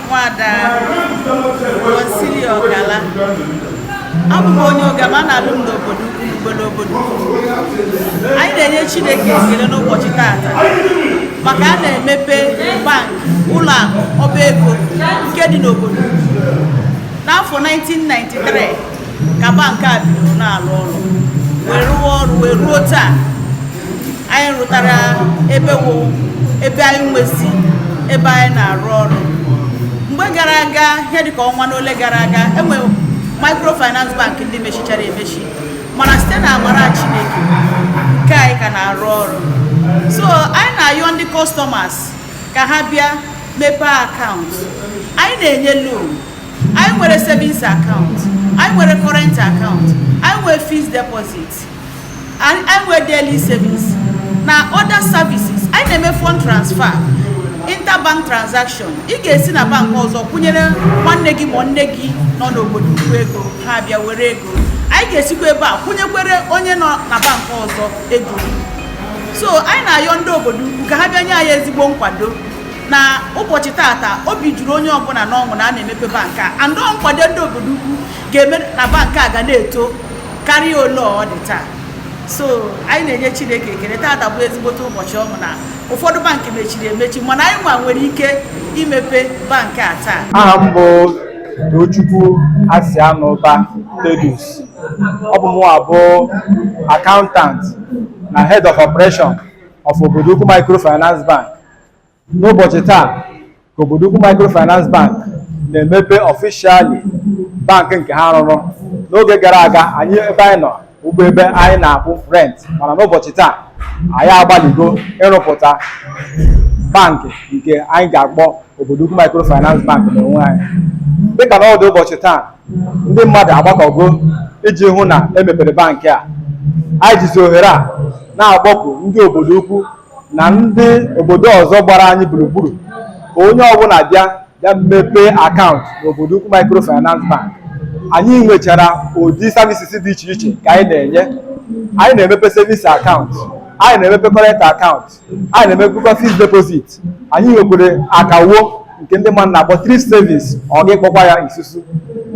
nwada Consili Ọgala abụ m onye Ogama a na-alụ m n'Obodoukwu n'obodo obodo anyị na-enye Chineke ekele n'ụbọchị taata maka a na-emepe bank ụlọ akụ ọba ego nke dị n'obodo n'afọ 1993 ka bank a bidoro na-arụ ọrụ wee rụwa ọrụ wee ruo taa anyị rụtara ebe wo ebe anyị nwezi ebe anyị na-arụ ọrụ mgbe gara aga ihe dịka ọnwa n'ole gara aga e nwe microfinance bank ndị mechichara emechi mana site na amara chineke nke anyị ka na-arụ ọrụ so anyị na-ayọ ndị customers ka ha bịa mepee account anyị na-enye loan anyị nwere savings account anyị nwere current account anyị nwere fixed deposit anyị nwere daily savings na other services anyị na-eme fund transfer interbank transaction ị ga-esi na bank ọzọ kwụnyere nwanne gị ma nne gị nọ n'Obodoukwu ego ha abịa were ego anyị ga-esikwa ebe a kwụnyekwere onye nọ na bank ọzọ ego so anyị na-ayọ ndị Obodoukwu ka ha bịa nye anyị ezigbo nkwado na ụbọchị taata obi juru onye ọbụla n'ọṅụ na a na-emepe bank a and nkwado ndị Obodoukwu ga-eme na bank a ga na-eto karịa ole ọ dị taa so anyị na-enye chineke ekele taata bụ ezigbote ụbọchị ọṅụ na ụfọdụ bank mechiri emechi mana anyị nwa nwere ike imepe bank a taa aha m bụ Tochukwu Asianụba Thaddeus ọ bụ mụnwa bụ accountant na head of operation of Obodoukwu Microfinance Bank n'ụbọchị taa ka Obodoukwu microfinance bank na-emepe officially bank nke ha rụrụ n'oge gara aga anyị ebe anyị nọ bụ ebe anyị na-akwụ rent mana n'ụbọchị taa anyị agbaligo ịrụpụta bank nke anyị ga-akpọ Obodoukwu microfinance bank n'onwe anyị dịka n'ọdụ ụbọchị taa ndị mmadụ agbakọgo iji hụ na e mepere bank a anyị jizi ohere a na-akpọku ndị Obodoukwu na ndị obodo ọzọ gbara anyị gburugburu ka onye ọbụla bịa bịa mepee account n'Obodoukwu microfinance bank anyị nwechara ụdị services dị iche iche ka anyị na-enye anyị na-emepe savings account anyị na-emepe current account anyị na-emepekwa fixed deposit anyị nwekwere akawo nke ndị mmadụ na-akpọ thrift savings ọ gị kpọkwa ya isusu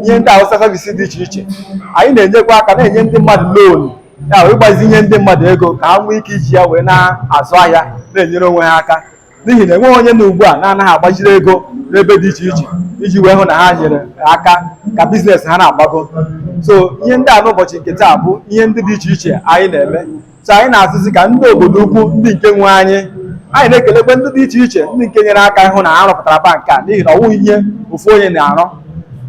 ihe ndị a wụsa services dị iche iche anyị na-enyekwa aka na-enye ndị mmadụ loan ya ịgbazinye ndị mmadụ ego ka ha nwee ike iji ya wee na-azụ ahịa na-enyere onwe ha aka n'ihi na enweghị onye na ugbu a na-anaghị agbaziri ego n'ebe dị iche iche iji wee hụ na ha nyere aka ka biznes ha na-agbago so ihe ndị a n'ụbọchị nke taa bụ ihe ndị dị iche iche anyị na-eme so anyị na-asịzi ka ndị obodo ukwu ndị nke nwe anyị anyị na-ekelekwe ndị dị iche iche ndị nke nyere aka ịhụ na ha rụpụtara bank a n'ihi na ọ wụghị ihe ofu onye na-arụ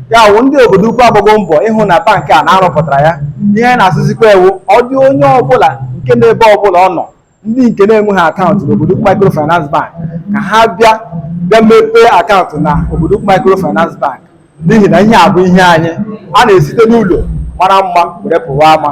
ya wụ ndị obodo ukwu agbago mbọ ịhụ na bank a na a rụpụtara ya ihe anyị na-asịzikwa wụ ọ dị onye ọbụla nke n'ebe ọbụla ọ nọ ndị nke na-enweghị akaụntụ n'obodo ukwu microfinance bank ka ha bịa bịa mepee akaụntụ na obodo ukwu microfinance bank n'ihi na ihe a bụ ihe anyị a na-esite n'ụlọ mara mma were pụwa ama